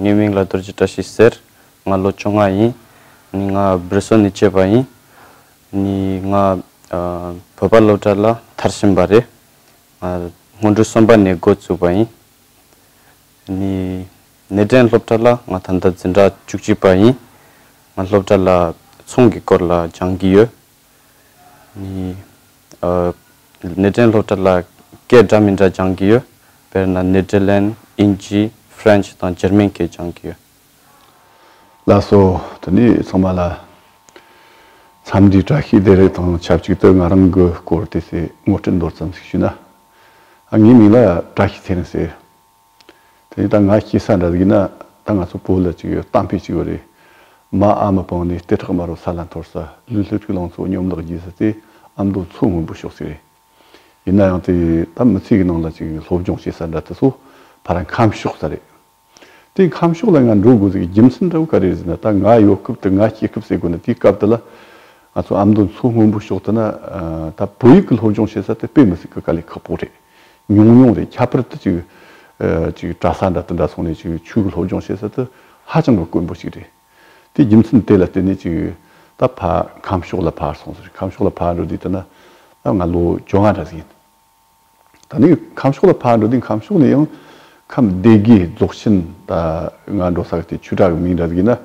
ངའི་མིང་ལ་རྡོ་རྗེ་བཀྲ་ཤིས་ཟེར། ང་ལོ་བཅོ་ལྔ་ཡིན། ང་སྦིར་སོ་ནི་སྐྱེས་པ་ཡིན། ང་བོད་པ་སློབ་གྲྭ་ལ་མཐར་ཕྱིན་པ་རེད། སྔོན་འགྲོའི་གསུམ་པ་ནས་འགོ་བཙུགས་པ་ཡིན། གནས་འདྲེན་སློབ་གྲྭ་ལ་ང་ད་ལྟ་འཛིན་གྲྭ་བཅུ་གཅིག་པ་ཡིན། ང་སློབ་གྲྭ་ལ་ཚོང་གི་སྐོར་ལ་སྦྱང་གི་ཡོད། ནི། ཨོ། ནི་ཏན་སློབ་གྲྭ་ལ་སྐད་འདྲ་མི་འདྲ་སྦྱང་གི་ཡོད། དཔེར་ན་ནི་ཏྲི་ལན། ཨིན་ཇི། French། དང་ཇར་མན་སྐད་སྦྱང་གི་ཡོད། ལ་སོ། དེ་ནས་ཚང་མ་ལ། མཚམས་འདྲིའི་བཀྲ་ཤིས་བདེ་ལེགས་དང་ཆབས་ཅིག་ཏུ་ང་རང་གི་སྐོར་དེ་སྲས་དངོས་སྤྲིན་མདོར་ཙམ་ཞིག་ཞུས་ན། ངའི་མིང་ལ་བཀྲ་ཤིས་ཚེ་རིང་ཟེར། དེ་ནས་ད་ང་སྐྱེས་ས་འདྲ་ཟིག་ན་ད་ང་ཚོ་བོད་ལ་ཅིག་ཡོད་གཏམ་དཔེ་ཅིག་ཡོད་རེད། མ་ཨ་མ་སྤངས་ནས་ལྟེ་ཁྲག་དམར་བོ་ས་ལ་འཐོར་ས་ལུས་ལྷུ་ཚིགས་ལང་ཚོ་གཉོམ་ལག་རྒྱས་ས་དེ་ཨ་མདོ་མཚོ་སྔོན་པོ་ཤོག་ཚིག་རེད། ཡིན་ན་ཡང་དེ་ད་མི་ཚེ་གི་ནང་ལ་ཅིག་སློབ་སྦྱོང་བྱེད་ས་འདྲ་དེ་ཚོ་ཕ་ར་ཁམས་ཕྱོགས་ས་རེད། དེ་ཁམས་ཕྱོགས་ལ་ང་འགྲོ་དགོས་ཟིག་རྒྱུ་མཚན་འདྲ་བོ་ག་རེ་ཟིག་ན་ད་ང་ཡོད་སྐབས་དེ་ང་སྐྱེས་སྐབས་ཟེར་དགོས་ན་དེའི་སྐབས་དེ་ལ་ང་ཚོ་ཨ་མདོ་མཚོ་སྔོན་པོ་ཤོག་དེ་ན་ད་བོད་ཡིག་གི་སློབ་སྦྱོང་བྱེད་ས་དེ་དཔེ་མི་སྲིད་གི་ག་ལེ་ཁག་པོ་རེད། ཉུང་ཉུང་རེད་ཁྱད་པར་དུ་ཅིག་ཅིག་གྲྭ་ས་འདྲ་དང་འདྲ་སོང་ནས་ཅིག་ཆོས་གོས་སློབ་སྦྱོང་བྱེད་ས་དུ་ཧ་ཅང་གི་དཀོན་པོ་ཅིག་རེད། དེ་རྒྱུ་མཚན་དེ་ལ་བརྟེན་ནས་ཅིག་ད་ཕ་ཁམས་ཕྱོགས་ལ་ཕར་སོང་ཟེར་རེད་ཁམས་ཕྱོགས་ལ་ཕར་འགྲོ་དུས་ད་ན་ད་ང་ལོ་བཅོ་ལྔ་འདྲ་ཟིག་ཡིན། ད་ནི་ཁམས་ཕྱོགས་ལ་ཕར་འགྲོ་དུས་ཁམས་ཕྱོགས་ནས་ཡང་ཁམས་སྡེ་དགེ་རྫོགས་ཆེན་ད་ང་འགྲོ་ས་གི་དེ་ཆོས་གྲྭ་གི་མིང་འདྲ་ཟིག་ཡིན་ན།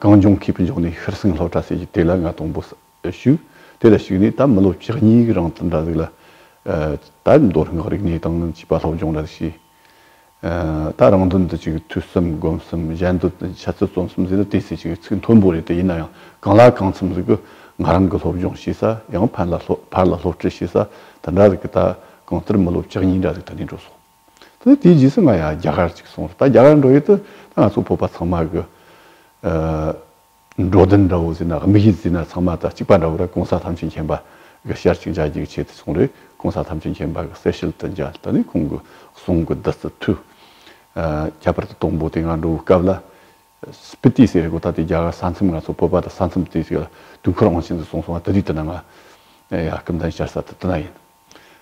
གངས་ལྗོངས་མཁས་པའི་མགྱོགས་ནས་ཤྲི་སིང་ལྷོ་བྲག་སྲས་ཀྱི་དེ་ལ་ང་དང་པོ་ཟེར། ཞུ། དེ་ལ་ཞུགས་ནས་ད་མི་ལོ་བཅུ་གཉིས་ཀྱི་རིང་དུ་འདྲ་གཟིགས་ལ། ད་མདོ་སྔགས་རིག་གནས་དང་བྱིས་པ་སློབ་སྦྱོང་འདྲ་གཟིགས་བྱས། ད་རང་དོན་དུ་ཅིག་ཐོས་གསུམ་སྒོམ་གསུམ་གཞན་དོན་དུ་འཆད་རྩོད་རྩོམ་གསུམ་ཟེར་ན་དེ་སྲིད་ཅིག་ཚིག་མཐོན་པོ་རེད་དེ་ཡིན་ན་ཡང་གང་ལ་གང་འཚམ་ཟིག་གི་ང་རང་གི་སློབ་སྦྱོང་བྱེད་ས་ཡང་ཕར་ལ་སློབ་ཁྲིད་བྱེད་ས་དེ་འདྲ་ཟིག་གི་ད་གང་ལྟར་མི་ལོ་བཅུ་གཉིས་འདྲ་ཟིག་ད་ནས་འགྲོ་སོང། དེ་དེའི་རྗེས་སུ་ང་ཡང་རྒྱ་གར་ཅིག་སོང་རེད་ད་རྒྱ་གར་འགྲོ་ཡུལ་དུ་ད་ང་ཚོ་བོད་པ་ཚང་མ་གི། འགྲོ་དོན་འདྲ་བོ་ཟིན་ན་དམིགས་ཡུལ་ཟིན་ན་ཚང་མ་དང་གཅིག་པ་འདྲ་བོ་རེད་གོང་ས་ཐམས་ཅད་མཁྱེན་པ་གི་ཞར་གཅིག་འཇགས་རྒྱུའི་ཆེད་དུ་སོང་རེད་གོང་ས་ཐམས་ཅད་མཁྱེན་པ་གི་གསལ་ཤེལ་དུ་འཇལ་ད་ནི་ཁོང་གི་གསུང་གི་བདུད་རྩི་འཐུལ། ཁྱད་པར་དུ་སྟོང་པོ་དེ་སྔ་འགྲོ་བའི་སྐབས་ལ། སྤི་ཏི་ཟེར་གོ་ད་ལྟའི་རྒྱ་གར་ས་མཚམས་ང་ཚོ་སྤོབས་པ་དང་ས་མཚམས་དེ་དུས་འཁོར་དབང་ཆེན་དུ་སོང་སོང་བ་དེ་དུས་དེ་ན་ང། ཡ་སྐུ་མདའི་ཤར་ས་དེ་དེ་ན་ཡིན།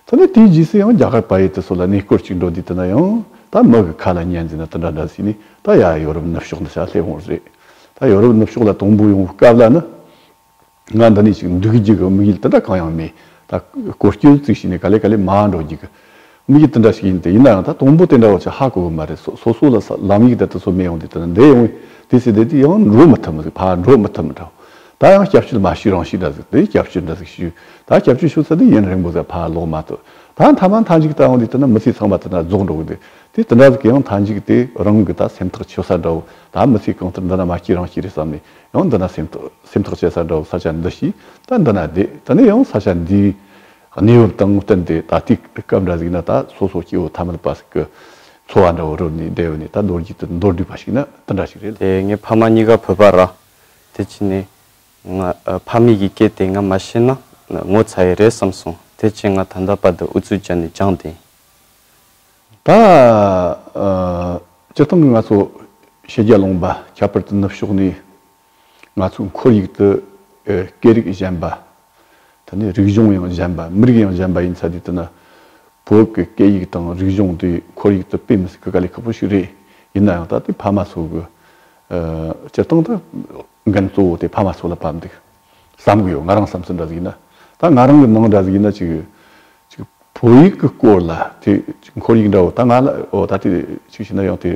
ཐ་ན་དེའི་རྗེས་སུ་ཡང་རྒྱ་གར་བ་ཡེ་ཏི་སོགས་ལ་གནས་སྐོར་ཅིག་འགྲོ་དུས་དེ་ན་ཡང་ད་མི་གི་ཁ་ལ་ཉན་རྫས་ན་དེ་འདྲ་འདྲ་ཟེར་ནས་ད་ཡ་ཡོ་རོབ་ནུབ་ཕྱོགས་འདི་ཤ་ལྷེབ་འོང་རེད། ད་ཡོ་རོབ་ནུབ་ཕྱོགས་ལ་དང་པོ་ཡོང་བའི་སྐབས་ལ་ནི་ང་འདི་ནས་ཅིག་འདུག་རྒྱུ་གི་དམིགས་ཡུལ་དེ་འདྲ་གང་ཡང་མེད། ད་གོ་སྐྱོན་བཙུགས་ཤིག་ནས་ག་ལེ་ག་ལེ་མ་འགྲོ་རྒྱུ་གི་དམིགས་ཡུལ་དེ་འདྲ་ཞིག་ཡིན་ཏེ་ཡིན་ན་ཡང་ད་དང་པོ་དེ་འདྲ་བ་ཅིག་ཧ་གོ་གི་མ་རེད་སོ་སོ་སོ་ལ་ལམ་ཡིག་དེ་དེ་ཚོ་མེད་ཡོང་དུས་དེ་ན་འདས་ཡོང་བས་དེ་ཚོས་དེ་དུས་ཡང་འགྲོ་མི་ཐུབ་མི་འགྲོ་མི་ཐུབ་མི་འདྲ། ད་ཡང་སྐྱབས་བཅོལ་མ་ཞུས་རང་ཞུས་འདྲ་ཟིག་དེ་སྐྱབས་བཅོལ་འདྲ་ཟིག་ཞུས་ད་སྐྱབས་བཅོལ་ཞུ་ཚར་དུས་ཡུན་རིང་པོ་ཟེར་ཕར་ལོག་མ་ཐུབ་ད་མཐའ་མ་མཐའ་འཇིག་ལྟ་བུ་འདི་ལྟ་ན་མི་ཚེ་ཚང་མ་དེ་འདྲ་རྫོགས་འགྲོ་གི་འདུག་དེ་དེ་འདྲ་ཟིག་གི་ཡང་མཐའ་འཇིག་དེ་རང་གི་ད་སེམས་ཐག་ཆོད་ས་འདྲ་བོ་ད་མི་ཚེ་གང་ལྟར་འདི་ན་མ་སྐྱེས་རང་སྐྱེས་རེད་བསམ་ནས་ཡང་འདི་ན་སེམས་ཐག་བཅད་ས་འདྲ་བོ་ས་ཆ་འདི་ཞིག་ད་འདི་ན་བསྡད་ད་ནི་ཡང་ས་ཆ་འདིའི་གནས་བབ་དང་བསྟུན་ཏེ་ད་དུས་སྐབས་འདྲ་ཟིག་ན་ད་སོ་སོ་སྐྱེ་བོ་ཐ་མལ་པ་ཟིག་གི་འཚོ་བ་འདྲ་བོ་རོལ་ནས་བསྡད་འོས་ནས་ད་ལོ་རྒྱུས་དུ་མདོར་བསྡུས་པ་ཞིག་ན་འདི་འདྲ་ཞིག་རེད། དེ་ངའི་ཕ་མ་གཉིས་ཀ་བོད་པ་ར། དེ་ཅི་ནས། ང་ཕ་མེས་ཀྱི་སྐད་དེ་ང་མ་ཤེས་ན་ངོ་ཚ་ཡི་རེད་བསམ་སོང་དེ་ཕྱིན་ང་ད་ལྟ་བར་དུ་ཨུ་ཚུགས་བྱས་ནས་སྦྱངས་ཏེ། ད་ཅི་སྟངས་ང་ཚོ་ཕྱི་རྒྱལ་ལོངས་པ་ཁྱད་པར་དུ་ནུབ་ཕྱོགས་ནས་ང་ཚོའི་འཁོར་ཡུག་ཏུ་སྐད་རིགས་གཞན་པ་ད་ནི་རིག་གཞུང་ཡང་གཞན་པ་མི་རིགས་ཡང་གཞན་པ་ཡིན་ཚ་དུས་དེ་ན་བོད་ཀྱི་སྐད་ཡིག་དང་རིག་གཞུང་དེ་ཁོར་ཡུག་ཏུ་སྤེལ་མི་སྲིད་ཀི་ག་ལས་ཁག་པོ་ཞིག་རེད་ཡིན་ན་ཡང་ད་དེ་ཕ་མ་ཚོ་གི་སྤྱིར་བཏང་དུ་འགན་གཙོ་བོ་དེ་ཕ་མ་ཚོ་ལ་བབས་འདུག་བསམ་གི་ཡོད་ང་རང་བསམ་ཚུལ་འདྲ་ཟིག་ཡིན་ན་ད་ང་རང་གི་ནང་འདྲ་ཟིག་ཡིན་ན་ཅིག་ཅིག་བོད་ཡིག་གི་སྐོར་ལ་དེ་ཅིག་ཁོར་ཡིག་འདྲ་བོ་ད་ང་ལ་ཨོ་ད་དེ་ཅིག་བྱས་ན་ཡང་དེ་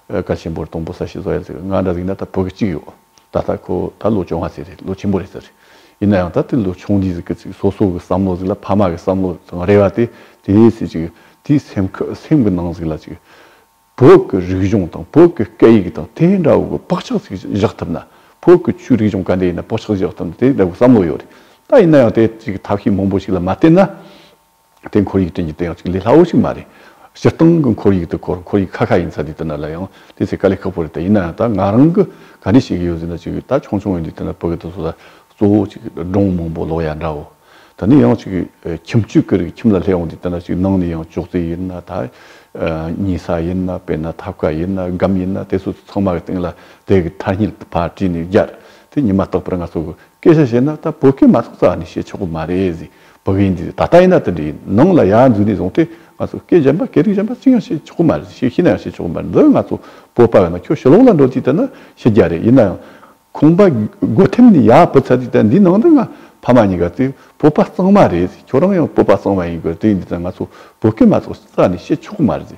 གལ་ཆེན་པོ་རེད་དང་པོ་ས་བྱི་བཟོ་ཡ་ཟིག་ང་འདྲ་ཟིག་ཡིན་ན་ད་བོད་ཀྱི་ཅིག་ཡོད། ད་ལྟ་ཁོ་ད་ལོ་ཆུང་བ་ཟེར་རེད་ལོ་ཆེན་པོ་རེད་ཟེར་རེད། ཡིན་ན་ཡང་ད་དེ་ལོ་ཆུང་འདི་ཟེར་གི་ཚིག་སོ་སོ་གི་བསམ་བློ་ཟིག་ལ་ཕ་མ་གི་བསམ་བློ་དང་རེ་བ་དེ་དེ་ཡིན་ཟེར་ཅིག་དེའི་སེམས་ཁ་སེམས་གི་ནང་ཟིག་ལ་ཅིག་བོད་གི་རིག་གཞུང་དང་བོད་གི་སྐད་ཡིག་དང་དེ་འདྲ་བོ་གི་བག་ཆགས་ཟིག་བཞག་ཐུབ་ན་བོད་གི་ཆོས་རིག་གཞུང་ག་འདྲ་ཡིན་ན་བག་ཆགས་ཟིག་བཞག་ཐུབ་ན་དེ་འདྲ་བོ་བསམ་བློ་ཡོད་རེད་ད་ཡིན་ན་ཡང་དེ་ཅིག་ཐབས་ཤེས་མང་པོ་ཞིག་ལ་མ་བརྟེན་ན། དེ་འཁོར་ཡིག་ཅན་གྱི་དེ་ཡང་གཅིག་ལས་སླ་བོ་ཞིག་མ་རེད། སྤྱིར་བཏང་གི་འཁོར་ཡིག་དེ་འཁོར་འཁོར་ཡིག་ཁ་ཁ་ཡིན་ས་དེ་དེ་འདྲ་ལ་ཡང་དེ་ཚད་དཀའ་ལས་ཁག་པོ་རེད་ད་ཡིན་ནའང་ད་ང་རང་གི་ག་འདྲས་བྱེད་ཀྱི་ཡོད་ཟེར་ན་ཅིག་ད་ཆུང་ཆུང་ཡིན་དུས་དེ་འདྲ་བོད་སྐད་དུ་བཟོ་ས་གཙོ་བོ་ཅིག་སྒྲུང་མང་པོ་ཀློག་ཡ་འདྲ་བོ། ད་ནི་ཡང་ཅིག་ཁྱིམ་བཅུ་ཀེར་གྱི་ཁྱིམ་ལ་སླེབས་འོང་དུས་དེ་འདྲ་ཅིག་ནང་ནས་ཡང་ཅོག་ཙེ་ཡིན་ན་ད་གཉིད་ས་ཡིན་ན་དཔེར་ན་ཐབ་ཀ་ཡིན་ན་སྒམ་ཡིན་ན་དེ་སོ་སོ་ཚང་མ་གི་སྟེང་ལ་དེ་གི་མཐར་སྙིལ་བ་བྲིས་ནས་བརྒྱར་དེ་ཉིད་མ་བརྟག་པར་ང་ཚོ་གི་སྐད་ཆ་བཤད་ན་ད་བོད་སྐད་མ་གཏོགས་ཙ་ནི་བཤད་ཆོག་གི་མ་རེད་ཟེར། བོད་པའི་འདི་ད་ལྟ་ཡིན་ན་དེ་འདྲའི་ནང་ལ་ཡར་འཛུལ་ནས་བཟུང་སྟེ་ང་ཚོ་སྐད་གཞན་པ་སྐད་རིགས་གཞན་པ་ཅི་ཡང་བཤད་ཆོག་གི་མ་རེད་ཤེས་ནའང་བཤད་ཆོག་གི་མ་རེད་འདི་ང་ཚོ་བོད་པ་ཡིན་ན་ཁྱོད་ཞི་ལོག་ལ་འགྲོ་ཅིག་ལྟ་ན་ཤེས་རྒྱ་རེད་ཡིན་ནའང་ཁོང་པ་སྒོ་ཐེམ་ནས་ཡར་བུད་ཚར་ཅིག་ལྟ་འདིའི་ནང་དུ་ང་ཕ་མ་གཉིས་ཀ་དེ་བོད་པ་གཙང་མ་རེད་ཁྱོད་རང་ཡང་བོད་པ་གཙང་མ་ཡིན་དགོས་རེད་དེ་འདི་ལྟར་ང་ཚོ་བོད་སྐད་མ་གཏོགས་ས་ནས་བཤད་ཆོག་གི་མ་རེད།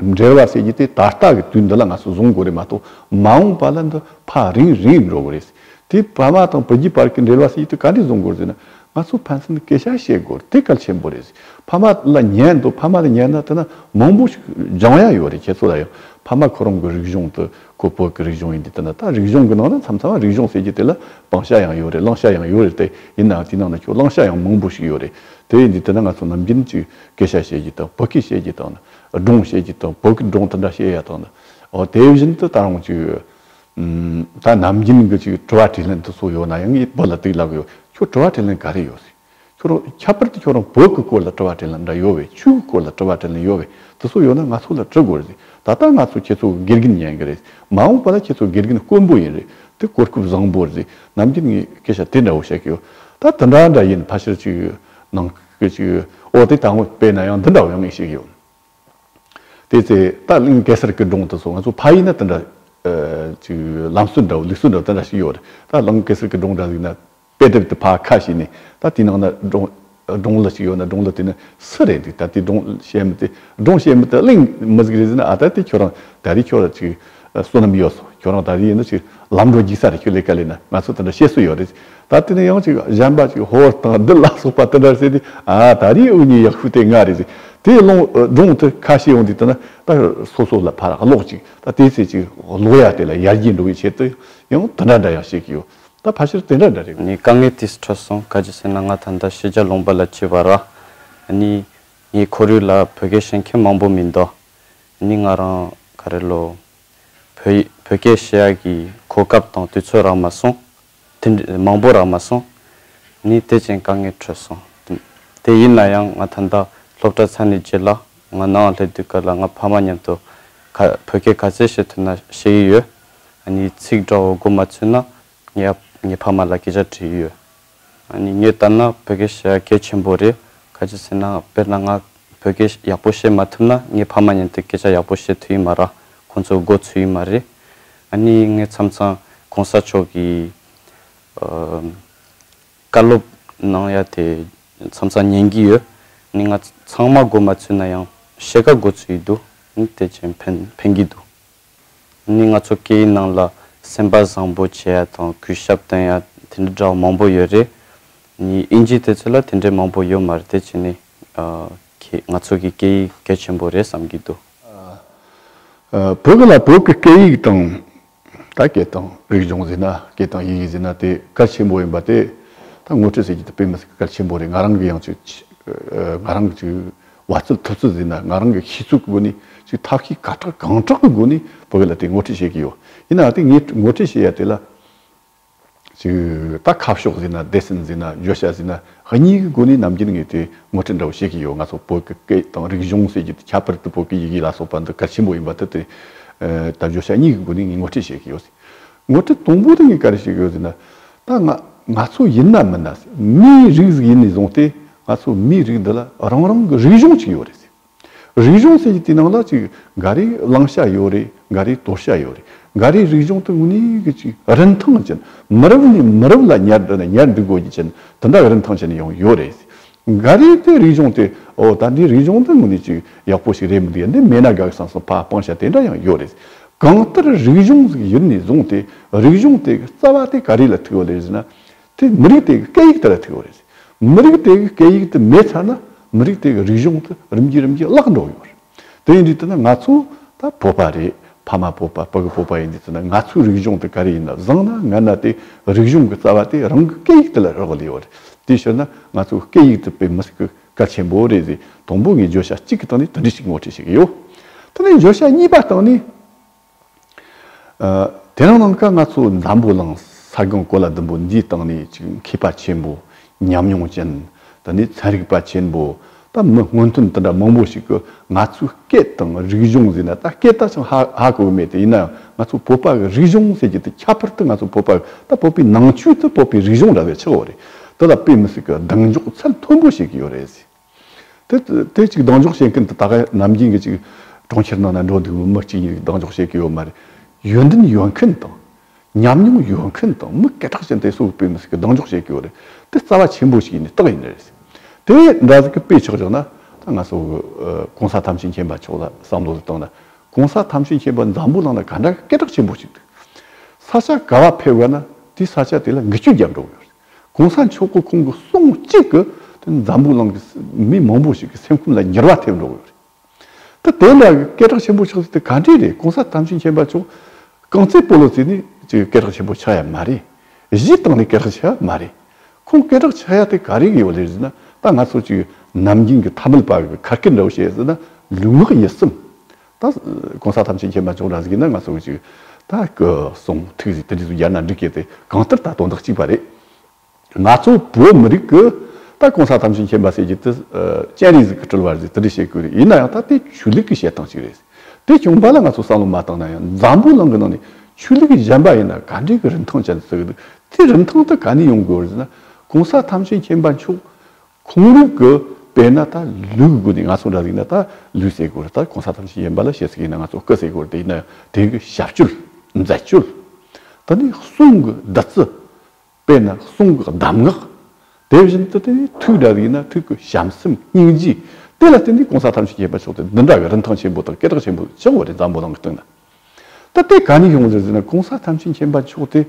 འབྲེལ་བ་ཟེར་རྒྱུ་དེ་ད་ལྟ་གི་དུས་འདི་ལ་ང་ཚོས་བཟུང་དགོས་རེད་མ་གཏོགས་མ་འོངས་པ་ལ་འདི་ཕ་རིང་རིང་ཡོད་རོགས་རེད། དེ་ཕ་མ་དང་བུ་རྒྱུད་བར་གྱི་འབྲེལ་བ་ཟེར་རྒྱུ་དེ་ག་འདྲས་བཟུང་དགོས་ཟེར་ན་ང་ཚོས་ཕན་ཚུན་སྐད་ཆ་བཤད་དགོས་དེ་གལ་ཆེན་པོ་རེད། ཕ་མ་ལ་ཉན་འདོད་ཕ་མ་ལ་ཉན་ན་དེ་ན་མང་པོ་ཞིག་སྦྱང་ཡ་ཡོད་རེད་ཁྱེད་ཚོ་ལ་ཡང་ཕ་མ་ཁོ་རང་གི་རིག་གཞུང་དེ་ཁོ་བོད་ཀྱི་རིག་གཞུང་ཡིན་དེ་དེ་ན་ད་རིག་གཞུང་གི་ནང་ན་མཚམས་མཚམས་རིག་གཞུང་ཟེར་རྒྱུ་དེ་ལ་བང་ཤ་ཡང་ཡོད་རེད་གླང་ཤ་ཡང་ཡོད་རེད་དེ་ཡིན་ནའང་དེའི་ནང་ན་ཁྱོད་གླང་ཤ་ཡང་མང་པོ་ཞིག་ཡོད་རེད་དེ་ཡིན་དུས་དེ་ན་ང་ཚོ་ནམ་རྒྱུན་གྱི་སྐད་ཆ་བཤད་རྒྱུ་དང་བོད་སྐད་བཤད་རྒྱུ་དང་ན་སྒྲུང་བཤད་རྒྱུ་དང་བོད་ཀྱི་སྒྲུང་དེ་འདྲ་བཤད་ཡག་དང། དེ་བཞིན་དུ་ད་རུང་ཅིག། ད་ནམ་རྒྱུན་གྱི་ཅིག་དྲི་བ་དྲིས་ལན་དེ་སོགས་ཡོད་ན་ཡང་ངས་བོད་ལ་དེ་ལབ་གི་ཡོད། ཁྱོད་དྲི་བ་དྲིས་ལན་ག་རེ་ཡོད། ཁྱོད་རང་ཁྱད་པར་དུ་ཁྱོད་རང་བོད་ཀྱི་སྐོར་ལ་དྲི་བ་དྲིས་ལན་འདྲ་ཡོད་བས་ཆོས་ཀྱི་སྐོར་ལ་དྲི་བ་དྲིས་ལན་ཡོད་བས་དེ་སོགས་ཡོད་ན་ང་ཚོ་ལ་དྲི་དགོས་རེད། ད་ལྟ་ང་ཚོ་ཁྱེད་ཚོ་གི་དགེ་རྒན་ཉན་གི་རེད། མ་འོངས་པ་ལ་ཁྱེད་ཚོ་དགེ་རྒན་དཀོན་པོ་ཡིན་རེད། དེ་གོ་སྐབས་བཟང་པོ་རེད། ནམ་རྒྱུན་ངས་སྐད་ཆ་དེ་འདྲ་བོ་བཤད་གི་ཡོད། ད་དེ་འདྲ་འདྲ་ཡིན་ཕ་ཕྱིར་ཅིག་ནང། བོད་ཀྱི་ཨོ་དེ་ད་སྔོན་དཔེ་ན་ཡང་འདི་འདྲ་བ་ཡང་ངེས་ཤིག་ཡོད། དེ་ཚེ་རྟ་གླིང་གེ་སར་གི་སྒྲུང་དུ་སོང་ང་ཚོ་ཕ་ཡིན་ན་དེ་འདྲ་ཅིག་ལམ་སྲོལ་འདྲ་བོ་ལུགས་སྲོལ་འདྲ་བོ་དེ་འདྲ་ཞིག་ཡོད་རེད། རྟ་གླིང་གེ་སར་གི་སྒྲུང་འདྲ་ཞིག་ན་དཔེ་དེབ་དེ་ཕ་ཁ་ཞིག་ནས་ད་དེའི་ནང་ན་སྒྲུང་སྒྲུང་ལི་ཞིག་ཡོད་ན་སྒྲུང་ལི་དེ་ནི་སུ་རེད་འདུག་ད་དེའི་སྒྲུང་བཤད་མི་དེ་སྒྲུང་བཤད་མི་དེ་གླིང་མི་ཟིག་རེད་ཟེར་ན་ཨ་ད་དེ་ཁྱོད་རང་ད་རེས་ཁྱོད་རང་ཅིག་བསོད་ནམས་ཡོད་སོང་ཁྱོད་རང་ད་རེས་ཡིན་ན་ཅིག་ལམ་འགྲོ་རྒྱུག་ས་རེད་ཁྱོད་ལས་ཀ་ལས་ན་ང་ཚོ་དེ་འདྲ་བཤད་སྲོལ་ཡོད་རེད། ད་དེ་ནས་ཡང་ཅིག་གཞན་པ་ཅིག་ཧོར་དང་བདུད་ལ་སོགས་པ་དེ་འདྲར་བསད་དེ། ཨཱ་ད་རེས་འུ་གཉིས་ཡག་ཤོས་དེ་ང་རེད་ཟེར། དེ་ཀློང་སྒྲུང་དེ་ཁ་ཤས་ཡོང་དུས་དེ་ན་ད་སོ་སོ་ལ་ཕར་ཀློག་ཅིག་ད་དེའི་ཚེ་ཅིག་ཀློག་ཡ་དེ་ལ་ཡར་རྒྱས་འགྲོ་བའི་ཆེད་དུ་ཡང་དེ་འདྲ་འདྲ་ཡང་བཤད་ཀྱི་ཡོད། ད་ཕར་ཕྱིར་དེ་འདྲ་འདྲ་རེད། ནས་དཀའ་ངལ་དེ་སུ་འཕྲད་སོང་ག་ཇི་ཟེར་ན་ང་ད་ལྟ་ཤེས་བྱ་ལུང་པ་ལ་བྱས་པ་ར། ནི། ངའི་ཁོར་ཡུག་ལ་བོད་སྐད་ཤེས་མཁན་མང་པོ་མི་འདུག་ནི་ང་རང་ག་རེ་ལོ། བོད་ཡིག་བོད་སྐད་ཤེས་ཡག་གི་གོ་སྐབས་དང་དུས་ཚོད་རག་མ་སོང། དེ་འདྲའི་མང་པོ་རག་མ་སོང། ངས་དེ་བཞིན་དཀའ་ངལ་ཁྲོད་སོང། དེ་ཡིན་ན་ཡང་ང་ད་ལྟ་སློབ་གྲྭ་ཚར་ནས་རྗེས་ལ་ང་ནང་སླེབས་དུས་སྐབས་ལ་ང་ཕ་མ་མཉམ་དུ། བོད་སྐད་ག་ཚད་ཤེས་ཐུབ་ན་བཤད་ཡི་ཡོད། ནས་ཚིག་འདྲ་བོ་གོ་མ་ཚུད་ན་ངས་ངའི་ཕ་མ་ལ་སྐད་ཆ་དྲིས་ཡི་ཡོད། ངས་ལྟར་ན་བོད་སྐད་བཤད་ཡ་གལ་ཆེན་པོ་རེད། ག་ཅིག་ཟེར་ན་དཔེར་ན་ང་བོད་སྐད་ཡག་པོ་བཤད་མ་ཐུབ་ན་ངའི་ཕ་མ་མཉམ་དུ་སྐད་ཆ་ཡག་པོ་བཤད་ཐུབ་ཡི་མ་རག་ཁོང་ཚོ་མགོ་ཚུད་ཡི་མ་རེད། ནི་ངས་མཚམས་མཚམས་གོང་ས་མཆོག་གི་བཀའ་སློབ་གནང་ཡ་དེ་མཚམས་མཚམས་ཉན་གྱི་ཡོད། ནི་ང་ཚང་མ་འགོ་མ་ཚུད་ན་ཡང་བཤད་ཁ་འགོ་ཚུད་ཡི་འདུག་ནི་དེ་བྱས་ཕན་ཕན་གྱི་འདུག་ནི་ང་ཚོ་སྐད་ཡིག་ནང་ལ་སེམས་པ་བཟང་པོ་བྱེད་ཡ་དང་གུས་ཞབས་བསྟན་ཡ་དེ་འདྲ་འདྲ་བ་མང་པོ་ཡོད་རེད། ནི་དབྱིན་ཇི་དེ་ཚོ་ལ་དེ་འདྲའི་མང་པོ་ཡོད་མ་རེད་དེ་བྱས་ནི་ཁྱེད་ང་ཚོ་གི་སྐད་ཡིག་གལ་ཆེན་པོ་རེད་བསམ་གྱི་འདུག། བོད་ལ་བོད་ཀྱི་སྐད་ཡིག་དང། ད་སྐད་དང་རིག་གཞུང་ཟེར་ན་སྐད་དང་ཡི་གེ་ཟེར་ན་དེ་གལ་ཆེན་པོ་ཡིན་པ་དེ་ད་ངོ་སྤྲོད་བྱེད་རྒྱུ་དེ་དཔེ་མི་སྲིད་གལ་ཆེན་པོ་རེད་ང་རང་གི་ཡང་ཅིག་ང་རང་གི་ཅིག་བ་རྩལ་ཐུབ་ཚོད་ཟེར་ན་ང་རང་གི་ཤེས་ཚུལ་གྱི་སྒོ་ནས་ཅིག་ཐབས་ཤེས་ག་དྲག་གང་དྲག་གི་སྒོ་ནས་བོད་ལ་དེ་ངོ་སྤྲོད་བྱེད་ཀྱི་ཡོད་ཡིན་ནའང་དེ་ངས་ངོ་སྤྲོད་བྱེད་ཡ་དེ་ལ་ཞེས་ད་ཁ་ཕྱོགས་ཟིན་ན་སྡེ་ཚན་ཟིན་ན་བརྗོད་བྱ་ཟིན་ན་ཧི་ཉིའི་གི་སྒོ་ནས་ནམ་རྒྱུན་ངས་དེ་ངོ་སྤྲོད་འདྲ་བོ་བྱེད་གི་ཡོད་ང་ཚོ་བོད་ཀྱི་སྐད་དང་རིག་གཞུང་ཟེར་རྒྱུ་དེ་ཁྱད་པར་དུ་བོད་ཀྱི་ཡི་གེ་ལ་སོགས་པ་འདི་གལ་ཆེན་པོ་ཡིན་པ་དེ་དེ་ད་བརྗོད་བྱ་གཉིས་ཀྱི་སྒོ་ནས་ངས་ངོ་སྤྲོད་བྱེད་གི་ཡོད་ཟེར། ངོ་སྤྲོད་དང་པོ་དེ་ངས་ག་རེ་བྱེད་གི་ཡོད་ཟེར་ན། ད་ང་ང་ཚོ་ཡིན་ནམ་མིན་ན་མིའི་རིགས་ཟིག་ཡིན་ནས་བཟུང་སྟེ་ང་ཚོ་མིའི་རིགས་འདི་ལ་རང་རང་གི་རིག་གཞུང་ཅིག་ཡོད་རེད་ཟེར། རིག་གཞུང་ཟེར་གྱི་དེ་ནང་ལ་ཅིག་འགའ་རེའི་བླང་བྱ་ཡོད་རེད་འགའ་རེའི་དོར་བྱ་ཡོད་རེད་འགའ་རེའི་རིག་གཞུང་དེ་དངོས་གནས་གི་ཅིག་རིན་ཐང་ཅན་མི་རབས་ནས་མི་རབས་ལ་ཉར་འགྲོ་ནས་ཉར་འདུག་དགོས་རྒྱུ་ཅན་དེ་འདྲ་རིན་ཐང་ཅན་ཡང་ཡོད་རེད། འགའ་རེའི་དེ་རིག་གཞུང་དེ་འོ་ད་འདི་རིག་གཞུང་འདི་དངོས་གནས་ཅིག་ཡག་པོ་ཞིག་རེད་མི་འདུག་ཡ་འདི་མེད་ན་དགའ་གི་སང་སང་ཕ་སྤང་བྱ་དེ་འདྲ་ཡང་ཡོད་རེད། གང་ལྟར་རིག་གཞུང་ཟེར་གྱི་ཡུལ་ནས་བཟུང་དེ་རིག་གཞུང་དེ་གི་རྩ་བ་དེ་ག་རེ་ལ་ཐུག་ཡོད་ལེ་ཟེར་ན། དེ་མི་རིགས་དེ་གའི་སྐད་ཡིག་དེ་ལ་ཐུག་ཡོད་རེད། མི་རིགས་དེ་གའི་སྐད་ཡིག་དེ་མེད་ཚར་ན་མི་རིགས་དེ་གའི་རིག་གཞུང་དེ་རིམ་གྱིས་རིམ་གྱིས་བརླག་འགྲོ་ཡོད་རེད། དེ་ཡིན་དུས་ལྟར་ན་ང་ཚོ་ད་བོད་པ་རེད་ཕ་མ་བོད་པ་བུ་ག་བོད་པ་ཡིན་དུས་ལྟར་ན་ང་ཚོའི་རིག་གཞུང་དེ་ག་རེ་ཡིན་ན་བཟང་ན་ངན་ན་དེ་རིག་གཞུང་གི་རྩ་བ་དེ་རང་གི་སྐད་ཡིག་དེ་ལ་རག་དགོས་ལེ་ཡོད་རེད། དེ་ཕྱིར་ན་ང་ཚོའི་སྐད་ཡིག་དེ་བོད་མི་ཞིག་གི་གལ་ཆེན་པོ་རེད་ཟེར་དང་པོ་ངས་བརྗོད་བྱ་གཅིག་གི་སྟེང་ནས་དེ་འདྲའི་ཞིག་ངོ་འཕྲད་བྱེད་ཀྱི་ཡོད། དེ་ནས་བརྗོད་བྱ་གཉིས་པ་སྟེང་ནས། དེ་རིང་ནམ་མཁའ་ང་ཚོ་འདམ་བུ་ལང་ས་གང་གོ་ལ་ལྡུམ་བུ་འདིའི་སྟེང་ནས་ཅིག་མཁས་པ་ཆེན་པོ་ཉམས་མྱོང་ཅན་དེ་ནས་ཚན་རིག་པ་ཆེན་པོ་ད་མི་སྔོན་ཐོན་དེ་འདྲ་མང་པོ་ཞིག་གི་ང་ཚོའི་སྐད་དང་རིག་གཞུང་ཟེར་ན་ད་སྐད་ད་ཅང་ཧ་ཧ་གོ་གི་མེད་དེ་ཡིན་ནའང་ང་ཚོ་བོད་པ་གི་རིག་གཞུང་ཟེར་རྒྱུ་དེ་ཁྱད་པར་དུ་ང་ཚོ་བོད་པ་ད་བོད་པའི་ནང་ཆོས་དེ་བོད་པའི་རིག་གཞུང་འདྲ་བའི་ཆགས་འོག་རེད་དེ་ལ་དཔེ་མི་སྲིད་གི་གདེང་འཇོག་ཚད་མཐོན་པོ་བྱེད་གི་ཡོད་རེད་ཟེར། དེ་ཅིག་གདེང་འཇོག་བྱེད་མཁན་དེ་ད་ག་ནམ་རྒྱུན་གྱི་ཅིག་གྲོང་ཁྱེར་ནང་ན་འགྲོ་འདུག་མི་གཅིག་གཉིས་གདེང་འཇོག་བྱེད་ཀྱི་ཡོད་མ་རེད། ཡོན་ཏན་ཡོད་མཁན་དང། ཉམས་མྱོང་ཡོད་མཁན་དང་མི་སྐད་གྲགས་ཅན་དེ་སུ་བོད་མི་ཟིག་གི་གདེང་འཇོག་བྱེད་ཀྱི་ཡོད་རེད། དེ་རྩ་བ་ཆེན་པོ་ཞིག་ཡིན་ནི་རྟགས་ཡིན་ནི་རེད། དེ་འདྲ་ཟིག་གི་དཔེ་ཆགས་བྱུང་ན་ད་ང་སོ་གོང་ས་ཐམས་ཅད་མཁྱེན་པ་མཆོག་ལ་བསམ་བློ་ཟིག་གཏང་ན་གོང་ས་ཐམས་ཅད་མཁྱེན་པ་འཛམ་བུ་གླང་ན་ག་འདྲ་གི་སྐད་གྲགས་ཆེན་པོ་ཞིག་འདུག། ས་ཆ་ག་བ་ཕེབས་དགོས་ན་དེའི་ས་ཆ་དེ་ལ་འགུལ་སྐྱོད་རྒྱབ་འགྲོ་གི་ཡོད་རེད། གོང་ས་མཆོག་གི་ཁོང་གི་གསུང་གཅིག་གིས་འཛམ་བུ་གླིང་གི་མི་མང་པོ་ཞིག་གི་སེམས་ཁུངས་ལ་ཉེར་བ་ཐེབས་འགྲོ་གི་ཡོད་རེད། དེ་འདྲ་གི་སྐད་གྲགས་ཆེན་པོ་ཆགས་ཚུལ་དེ་ག་འདྲས་རེད་གོང་ས་དམ་ཅན་མཁྱེན་པ་མཆོག་རྐང་རྩེད་སྤོ་ལོ་ཚུལ་ནི་སྐད་གྲགས་ཆེན་པོ་ཆགས་ཡ་མ་རེད། གཞི་བཏང་ནས་སྐད་གྲགས་ཆགས་ཡ་མ་རེད། ཁོང་སྐད་གྲགས་ཆགས་ཡ་དེ་ག་རེ་གི་ཡོད་རེད་ཟེར་ན་ད་ང་ཚོ་ཅིག་ནམ་རྒྱུན་གི་ཐ་མལ་པ་གི་གར་སྐད་འདྲ་བོ་བཤད་ཟེར་ན་ལུས་ངག་ཡིད་གསུམ་ད་གང་ཟག་ཐམས་ཅད་མཁྱེན་པ་མཆོག་འདྲ་ཟིག་ཡིན་ན་ང་སོང་ཅིག། ད་སྐུ་གསུང་ཐུགས་ཟིག་དེ་འདྲས་སུ་ཡར་ན་འགྲིག་གི་དེ་གང་ལྟར་ད་དོན་དག་གཅིག་པ་རེད། ང་ཚོ་བོད་མི་རིགས་ཀྱི་ད་གང་ཟག་ཐམས་ཅད་མཁྱེན་པ་ཟེར་གྱི་དེ་སྤྱན་རས་གཟིགས་ཀྱི་དྲིལ་བ་རེད་དེ་འདྲས་བཤད་དགོས་རེད་ཡིན་ན་ཡང་ད་དེ་ཆོས་ལུགས་ཀྱི་བཤད་སྟངས་གཅིག་རེད། དེ་བྱུང་བ་ལ་ང་ཚོ་བསམ་བློ་མ་བཏང་ན་ཡང་འཛམ་བུའི་གླིང་གི་ནང་ནས་ཆོས་ལུགས་ཀྱི་གཞན་པ་ཡིན་ན་ག་འདྲས་ཀྱི་རིན་ཐང་ཅན་དུ་བརྩི་གི་འདུག་དེ་རིན་ཐང་དུ་ག་ནས་ཡོང་དགོས་རེད་ཟེར་ན་གང་ཟག་ཐམས་ཅད་མཁྱེན་པ་མཆོག་ཁོང་རིགས་ཀྱི་དཔེ་ན་ད་ལུས་ཀྱི་སྒོ་ནས་ང་ཚོ་འདྲ་རིགས་ན་ད་ལུས་ཟེར་སྒོར་ད་གོང་ས་ཐམས་ཅད་ཡིན་པ་ལ་བཤད་ཟེར་གྱི་ན་ང་ཚོ་སྐུ་ཟེར་སྒོར་དེ་ཡིན་ན་དེང་གི་ཞབས་སྤྱོད་མཛད་སྤྱོད་ད་ནི་གསུང་གི་བདག་རྩི་དཔེ་ན་གསུང་གི་གདམས་ངག་དེ་བཞིན་དུ་ད་ནི་ཐུགས་འདྲ་རིགས་ན་ཐུགས་ཀྱི་བྱམས་སེམས་སྙིང་རྗེ་དེ་ལ་བརྟེན་ནས་གོང་ས་ཐམས་ཅད་ཡིན་པ་ཆོག་སྟེ་འདི་འདྲ་བའི་རིན་ཐང་ཆེན་པོ་དང་སྐད་གྲགས་ཆེན་པོ་ཅང་བ་རེ་འཛམ་བུ་གླང་གི་སྟེང་ན། ད་ལྟའི་ག་ནས་ཡོང་ཟེར་ཟེར་ན་གོང་ས་ཐམས་ཅད་མཁྱེན་པ་མཆོག་སྟེ།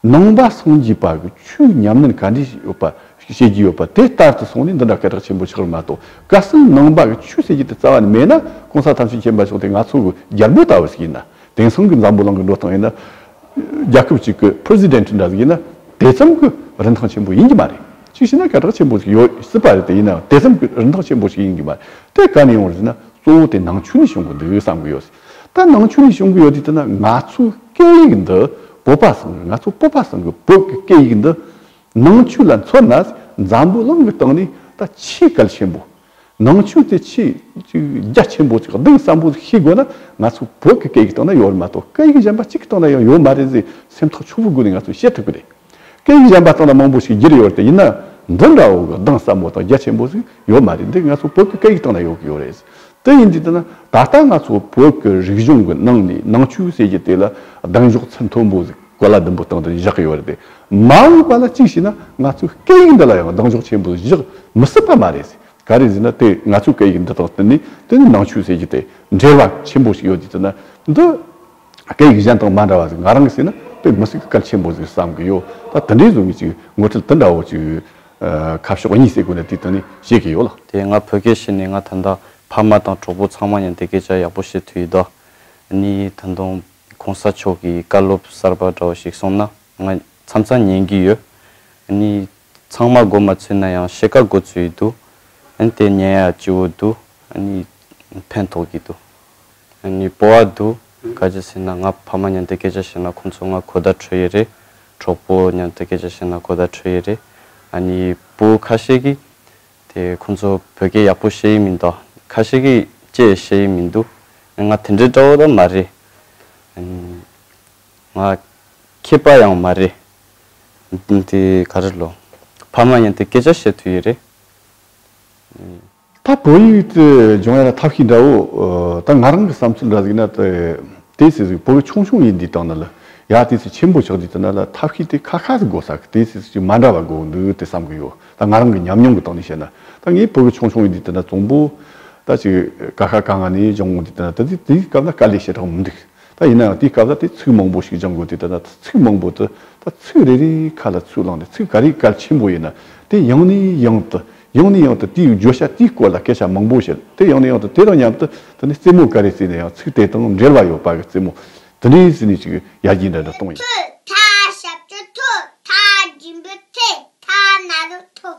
ནང་པ་སངས་རྒྱས་པ་གི་ཆོས་ཉམས་ལེན་ག་འདྲས་ཡོད་པ་ཤེས་ཀྱི་ཡོད་པ་དེ་ལྟར་དུ་སོང་ནས་འདི་འདྲ་སྐད་གྲགས་ཆེན་པོ་ཆགས་རིགས་མ་གཏོགས་བཀའ་སྲུང་ནང་པ་གི་ཆོས་ཤེས་ཀྱི་དེ་རྩ་བ་ནས་མེད་ན་གོང་ས་ཐམས་ཅད་མཁྱེན་པ་མཆོག་སྟེ་ང་ཚོ་གི་རྒྱལ་པོ་ལྟ་བུ་ཞིག་ཡིན་ན་དེང་སང་གི་འཛམ་བུ་གླང་གི་འགྲོ་སྟངས་ཡིན་ན། རྒྱལ་ཁབ་ཅིག་གི president འདྲ་ཞིག་ཡིན་ན་དེ་ཙམ་གི་རིན་ཐང་ཆེན་པོ་ཡིན་གྱི་མ་རེད། གཅིག་བྱས་ན་སྐད་གྲགས་ཆེན་པོ་ཞིག་ཡོད་སྲིད་པ་རེད་དེ་ཡིན་ནའང་དེ་ཙམ་གྱི་རིན་ཐང་ཆེན་པོ་ཞིག་ཡིན་གྱི་མ་རེད། དེ་ག་ནས་ཡོང་ཟེར་ན་གཙོ་བོ་དེ་ནང་ཆོས་ནས་བྱུང་གི་འདུག་བསམ་གི་ཡོད། ད་ནང་ཆོས་ནས་བྱུང་གི་ཡོད་དུས་ད་ང་ཚོའི་སྐད་ཡིག་འདི་བོད་པ་ཟེར་ནས་ང་ཚོ་བོད་པ་ཟེར་གི་བོད་ཀྱི་སྐད་ཡིག་འདི་ནང་ཆོས་ལ་མཚོན་ན་འཛམ་བུའི་གླིང་གི་སྟེང་ནས་ད་ཆེས་གལ་ཆེན་པོ། ནང་ཆོས་དེ་ཆེས་རྒྱ་ཆེན་པོ་ཅིག་འདུག་བསམ་པོ་ཤེས་དགོས་ན་ང་ཚོ་བོད་ཀྱི་སྐད་ཡིག་སྟེང་ན་ཡོད་མ་གཏོགས་སྐད་ཡིག་གཞན་པ་གཅིག་གི་སྟེང་ན་ཡང་ཡོད་མ་རེད་ཟེར་སེམས་ཐག་ཆོད་པོ་སྒོས་ནས་ང་ཚོས་བཤད་ཐུབ་ཀྱི་རེད། སྐད་ཡིག་གཞན་པ་ལྟ་ན་མང་པོ་ཞིག་བསྒྱུར་ཡོད་རེད་ཡིན་ན་འདི་འདྲ་བོ་གདངས་ཟབ་མོ་དང་རྒྱ་ཆེན་པོ་ཞིག་ཡོད་མ་རེད་འདི་ང་ཚོ་བོད་ཀྱི་སྐད་ཡིག་སྟེང་ན་ཡོད་ཀྱི་ཡོད་རེད། དེ་ཡིན་དུས་ལྟ་ན་ད་ལྟ་ང་ཚོ་བོད་ཀྱི་རིག་གཞུང་གི་ནང་ནས་ནང་ཆོས་ཟེར་གྱི་དེ་ལ་གདངས་འཇོག་ཚད་མཐོན་པོ་ཞིག་གོ་ལ་བདུན་པོ་སྟེང་དུ་བཞག་གི་ཡོད་རེད་དེ་མ་འོངས་པ་ལ་གཅིག་བྱས་ན་ང་ཚོའི་སྐད་ཡིག་འདི་ལ་ཡང་གདངས་འཇོག་ཆེན་པོ་ཞིག་བཞག་མི་སྲིད་པ་མ་རེད། ག་རེ་ཟེར་ན་དེ་ང་ཚོའི་སྐད་ཡིག་འདི་དང་བསྟུན་ནས་དེ་ནི་ནང་ཆོས་ཟེར་གྱི་དེ་འབྲེལ་བ་ཆེན་པོ་ཞིག་ཡོད་དུས་ལྟ་ན་འདི་སྐད་ཡིག་གཞན་དང་མ་འདྲ་བ་ཞིག་ང་རང་གིས་བཤད་ན་དཔེ་མི་སྲིད་གི་གལ་ཆེན་པོ་ཞིག་བསམ་གི་ཡོད། ད་དེ་འདྲའི་བཟོ་ངེས་ཅིག་ངོ་འཕྲད་དེ་འདྲ་བོ་ཅིག་ཁ་ཕྱོགས་གཉིས་སད་གོ་ནས་དེ་ལྟར་ནི་བཤད་གི་ཡོད་ལ། དེ་ང་བོད་སྐད་ཤེས་ནས་ང་ད་ལྟ་ཕ་མ་དང་གྲོགས་པོ་ཚང་མ་ཡང་དེ་སྐད་ཆ་ཡག་པོ་བཤད་ཐུབ་ཡོད་ད། ནི་ད་དུང་གོང་ས་མཆོག་གི་བཀའ་སློབ་གསར་པ་འདྲ་བ་ཞིག་སོང་ན་ང་མཚམས་མཚམས་ཉན་གི་ཡོད། ནི་ཚང་མ་སྒོ་མ་ཚུད་ན་ཡང་ཕྱེད་ཀ་སྒོ་ཚུད་ཡི་འདུག་ཨཱ་ནི་དེ་ཉན་ཡ་སྐྱིད་བོ་འདུག་ཨཱ་ནི་ཕན་ཐོགས་ཀྱི་འདུག་ཨཱ་ནི་སྤོ་བ་འདུག་ག་ཇི་ཟེར་ན་ང་ཕ་མ་ཉན་དེ་སྐད་ཆ་བཤད་ན་ཁོང་ཚོ་ང་གོ་བརྡ་འཕྲོད་ཡི་རེད་གྲོགས་པོ་ཉན་དེ་སྐད་ཆ་བཤད་ན་གོ་བརྡ་འཕྲོད་ཡི་རེད་ཨཱ་ནི་བུ་ཁ་ཤས་ཀྱིས་དེ་ཁོང་ཚོ་བོད་སྐད་ཡག་པོ་བཤད་ཡི་མི་འདུག་ཁ་ཤས་ཀྱིས་ཅེས་བཤད་ཡི་མི་འདུག་ཨཱ་ནི་ང་དེ་འདྲའི་དགྲ་བོ་ད་མ་རེད་ཨཱ་ནི། ང་ཁྱི་པ་ཡང་མ་རེད། འདི་ག་རེ་ལོ། ཕ་མ་ཡིན་དུས་སྐད་ཆ་བཤད་དུས་ཡི་རེད། ཨེ། ད་བོད་ཡིག་ཏུ་སྦྱོང་ཡ་ན་ཐབས་ཤེས་འདྲ་བོ། ད་ང་རང་གི་བསམ་ཚུལ་འདྲ་ཟིག་ན་ཏེ། དེ་སྲིད་སུ་བོད་ཆུང་ཆུང་ཡིན་དུས་དང་ན་ལ་ཡ་དེ་སུ་ཆེན་པོ་ཆགས་དུས་དང་ན་ལ་ཐབས་ཤེས་དེ་ཁ་ཁ་ཟིག་དགོས་ས་གི་དེ་སྲིད་སུ་ཅིག་མ་འདྲ་བ་དགོས་འདུག་ཏེ་བསམ་གི་ཡོད། ད་ང་རང་གི་ཉམས་མྱོང་གི་སྟངས་ནས་བཤད་ན་ད་ངས་བོད་ཆུང་ཆུང་ཡིན་དུས་དང་ན་བཙོང་པོ། ད་ཅིག་ཀ་ཁ་ཀ་ང་ནས་སྦྱོང་དུས་དང་ན་ད་དེ་དེའི་སྐབས་ན་དཀའ་ལས་བྱེད་གྲགས་མི་འདུག། ད་ཡིན་ན་ཡང་དེའི་སྐབས་ལ་དེ་ཚིག་མང་པོ་ཞིག་སྦྱང་དགོས་དུས་ད་ཚིག་མང་པོ་དུ་ད་ཚིག་རེ་རེའི་ཁ་ལ་ཚུར་བླངས་ནས་ཚིག་ག་རེའི་གལ་ཆེན་པོ་ཡིན་ན་དེ་ཡང་ནས་ཡང་དུ་ཡང་ནས་ཡང་དུ་དེའི་བརྗོད་བྱ་དེའི་སྐོར་ལ་སྐད་ཆ་མང་པོ་བཤད་དེ་ཡང་ནས་ཡང་དུ་དེ་དང་མཉམ་དུ་ད་ནི་རྩེད་མོ་ག་རེ་རྩེས་ནས་ཡང་ཚིག་དེ་དང་འབྲེལ་བ་ཡོད་པ་གི་རྩེད་མོ་དེ་ནས་ཟིན་ནས་ཅིག་ཡར་རྒྱས་འདྲ་འདྲ་གཏོང་ཡིན། ཐོས་མཐའ་ཞབས་ཀྱི་ཐོས་མཐའ་སྦྱིན་པའི་ཚེ་མཐའ་ན་རུ་ཐོས་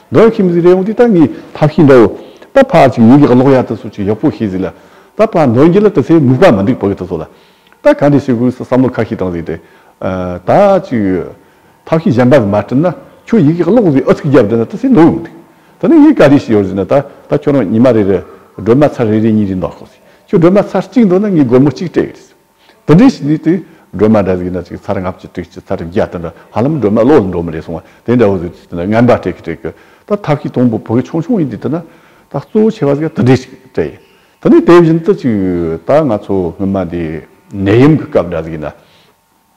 རྡོའི་ཁྱིམ་གཟིགས་རེ་འོང་དུས་ད་ངས་ཐབས་ཤེས་འདྲ་བོ། ད་ཕར་ཅིག་ཉིན་གྱི་གློག་ཡར་དུ་སོང་ཅིག་ཡག་པོ་ཤེས་གཟིགས་ལ། ད་ཕར་ནོར་འགྱིག་ལ་དེ་ཚེ་སྨུག་པ་མི་འདུག་བོད་སྐད་དུ་གསོལ་ལ། ད་ག་འདྲས་བྱེད་དགོས་སུ་བསམ་བློ་ཁ་ཤས་བཏང་གཟིགས་ཏེ། ད་ཅིག། ཐབས་ཤེས་གཞན་པ་ཟིག་མ་བསྐྲུན་ན་ཁྱོད་ཡིག་གི་གློག་ཟིག་ཨུ་ཚུགས་བརྒྱབ་བསྡད་ན་དེ་ཚེ་ནོར་འུ་འདུག། ད་ནི་ངས་ག་འདྲས་བྱེད་ཡོད་ཟིག་ན་ད་ད་ཁྱོད་རང་ཉི་མ་རེ་རེར་སྒྲོལ་མ་ཚར་རེ་རེ་གཉིས་རེ་འདོགས་ཤོག་ཟིག་ཁྱོད་སྒྲོལ་མ་ཚར་གཅིག་འདོགས་ན་ངས་སྒོར་མོ་གཅིག་སྤྲད་གི་རེད་ཟིག། དེ་འདྲའི་བྱས་ནས་དེ་སྒྲོལ་མ་འདྲ་བའི་ན་ཚའི་ཚར་ལྔ་བཅུ་དྲུག་ཅུ་ཚར་བརྒྱ་དེ་འདྲ་ཧ་ལམ་སྒྲོལ་མ་བློ་ལ་འགྲོ་མི་རེ་སོང་བ་དེ་འདྲ་བོ་ཟིག་དེ་འདྲ་ངན་པ་སྤྲད་ཀི་སྤྲད་ཀི་ད་ཐབས་ཤེས་དང་པོ་བོད་ཆུང་ཆུང་ཡིན་དུས་དེ་ན་ད་གཙོ་བོ་ཆེ་བ་ཟིག་དེ་འདྲས་ཞིག་སྤྲད་ཡིན་དེ་ནས་དེ་བཞིན་དུ་ཅིག་ད་ང་ཚོ་སྔོན་མ་དེ་ནད་ཡམས་ཀི་སྐབས་འདྲ་ཟིག་ཡིན་ན་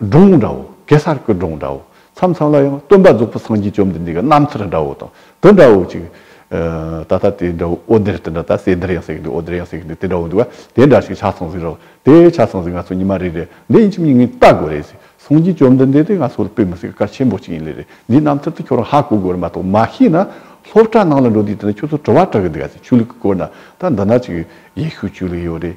སྒྲུང་འདྲ་བོ་གེ་སར་གྱི་སྒྲུང་འདྲ་བོ་མཚམས་མཚམས་ལ་ཡང་སྟོན་པ་རྫོགས་པ་སངས་རྒྱས་བཅོམ་ལྡན་འདས་ཀྱི་རྣམ་ཐར་འདྲ་བོ་དང་དེ་འདྲ་བོ་ཅིག་ད་ལྟ་དེ་འདྲ་བོ་ཨོ་དེར་དེ་འདྲ་ད་གསལ་དེར་ཡང་གསལ་འདུག་ཨོ་དེར་ཡང་གསལ་འདུག་དེ་འདྲ་བོ་འདུག་བ་དེ་འདྲ་ཞིག་ཆ་ཚང་ཟིག་རོགས་དེ་ཆ་ཚང་ཟིག་ང་ཚོ་ཉི་མ་རེ་རེ་འདི་ཡིན་ཕྱི་མ་ཡིན་ངས་བལྟ་དགོས་རེད་ཟིག་སངས་རྒྱས་བཅོམ་ལྡན་འདས་དེ་ང་ཚོ་ལ་དཔེ་མི་སྲིད་སྐར་ཆེན་པོ་ཅིག་ཡིན་ལེ་རེད་འདིའི་རྣམ་ཐར་དེ་ཁྱོད་རང་ཧ་གོ་དགོས་རེད་མ་གཏོགས་མ་ཤེས་ན་སློབ་གྲྭ་ནང་ལ་འགྲོ་དུས་དེ་འདྲ་ཁྱོད་ཚོ་དྲི་བ་དྲག་གི་འདུག་ག་ཟིག་ཆོས་ལུགས་ཀྱི་སྐོར་ན་ད་འདི་འདྲ་ཅིག་ཡེ་ཤུ་ཆོས་ལུགས་ཡོད་རེད་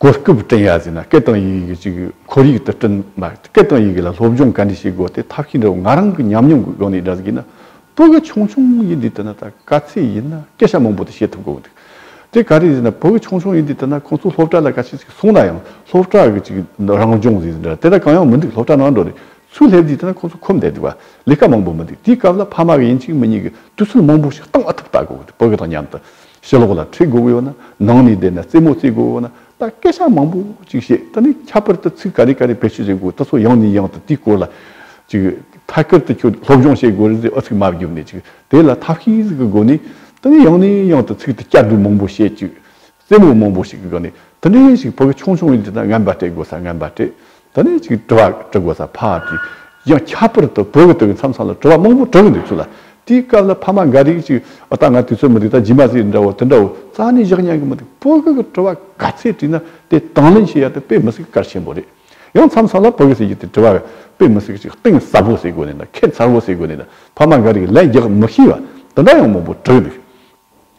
གོ་སྐབས་བསྐྲུན་ཡ་ཟེར་ན་སྐད་དང་ཡི་གེ་གཅིག་ཁོར་ཡུག་ཏུ་བསྐྲུན་མ་ཡོད་སྐད་དང་ཡི་གེ་ལ་སློབ་སྦྱོང་ག་འདྲས་བྱེད་དགོས་དེ་ཐབས་ཤེས་འདྲ་བོ་ང་རང་གི་ཉམས་མྱོང་གི་སྒོ་ནས་འདྲ་ཟེར་གྱི་ན་པོ་གི་ཆུང་ཆུང་ཡིན་དུས་ད་ན་ད་ག་ཚད་ཡིན་ན་སྐད་ཆ་མང་པོ་དེ་བཤད་ཐུབ་དགོས་འདུག་དེ་ག་རེ་ཟེར་ན་པོ་གི་ཆུང་ཆུང་ཡིན་དུས་ད་ན་ཁོང་ཚོ་སློབ་གྲྭ་ལ་ག་ཚད་ཅིག་སོང་ན་ཡང་སློབ་གྲྭ་གི་ཅིག་རང་སྦྱོང་ཟེར་གྱི་འདྲ་དེ་འདྲ་གང་ཡང་མི་འདུག་སློབ་གྲྭ་ནང་འགྲོ་རེ་ཚུལ་སླེབས་དུས་ད་ན་ཁོང་ཚོ་ཁོམ་བསྡད་འདུག་བ་ལས་ཀ་མང་པོ་མི་འདུག་དེའི་སྐབས་ལ་ཕ་མ་གི་ཡིན་གཅིག་མི་གཉིས་གི་དུས་ཚོད་མང་པོ་ཞིག་གཏང་ཨ་ཐུབ་ལྟ་དགོས་འདུག་པོ་གི་དང་མཉམ་དུ། ཕྱི་ལོགས་ལ་ཁྲིད་དགོས་ཡོད་ན་ནང་ནས་བསྡད་ན་རྩེད་མོ་རྩེད་དགོས་ཡོད་ན་ད་སྐད་ཆ་མང་པོ་ཅིག་བཤད་ད་ནི་ཁྱད་པར་དུ་ཚིག་ག་རེ་ག་རེ་བེད་སྤྱོད་བྱེད་དགོས་ད་ཚོ་ཡང་ནས་ཡང་དུ་དེའི་སྐོར་ལ་ཅིག་ཐད་ཀར་དུ་ཁྱོད་སློབ་སྦྱོང་བྱེད་དགོས་རེད་ཟེར་ཨ་ཚིག་མ་བརྒྱུད་ནས་ཅིག་དེ་ལ་ཐབས་ཤེས་གི་སྒོ་ནས་ད་ནི་ཡང་ནས་ཡང་དུ་ཚིག་དེ་བསྐྱར་ཟློས་མང་པོ་བྱེད་ཅིག་རྩེད་མོ་མང་པོ་ཞིག་གི་སྒང་ནས་དེ་འདྲའི་ཞིག་བོད་སྐད་ཆུང་ཆུང་ཡིན་དུས་ན་ངན་པ་སྤྲད་དགོས་ས་ངན་པ་སྤྲད་ད་ནི་ཅིག་དྲི་བ་དྲི་དགོས་ས་ཕ་དེ་ཡང་ཁྱད་པར་དུ་བོད་ཀྱི་དེ་མཚམས་སམ་ལ་དྲི་བ་མང་པོ་དྲི་གི་འདུག་ཚུལ་ལ་དེའི་སྐབས་ལ་ཕ་མ་འགའ་རིག་ཅིག་ཨོ་ད་ང་དུས་ཚོད་མི་འདུག་ད་རྗེས་མ་ཟིག་འདྲ་བོ་དེ་འདྲ་བོ་རྩ་ནས་བཞག་སྙམ་གྱི་མི་འདུག་བོད་ཀྱི་དྲི་བ་ག་ཚད་དྲིས་ན་དེ་དང་ལེན་བྱེད་ཡག་དེ་དཔེ་མི་སྲིད་གར་ཆེན་པོ་རེད་ཡང་མཚམས་སམ་ལ་བོད་ཀྱི་ཟེར་རྒྱུ་དེ་དྲི་བ་དཔེ་མི་སྲིད་ཅིག་གཏིང་ཟབ་བོ་ཟེར་དགོས་ནས་དང་ཁྱད་མཚར་བོ་ཟེར་དགོས་ནས་དང་ཕ་མ་འགའ་རིག་ལན་རྒྱག་མི་ཤེས་པ་དེ་འདྲ་ཡང་མང་པོ་དྲི་གི་འདུག་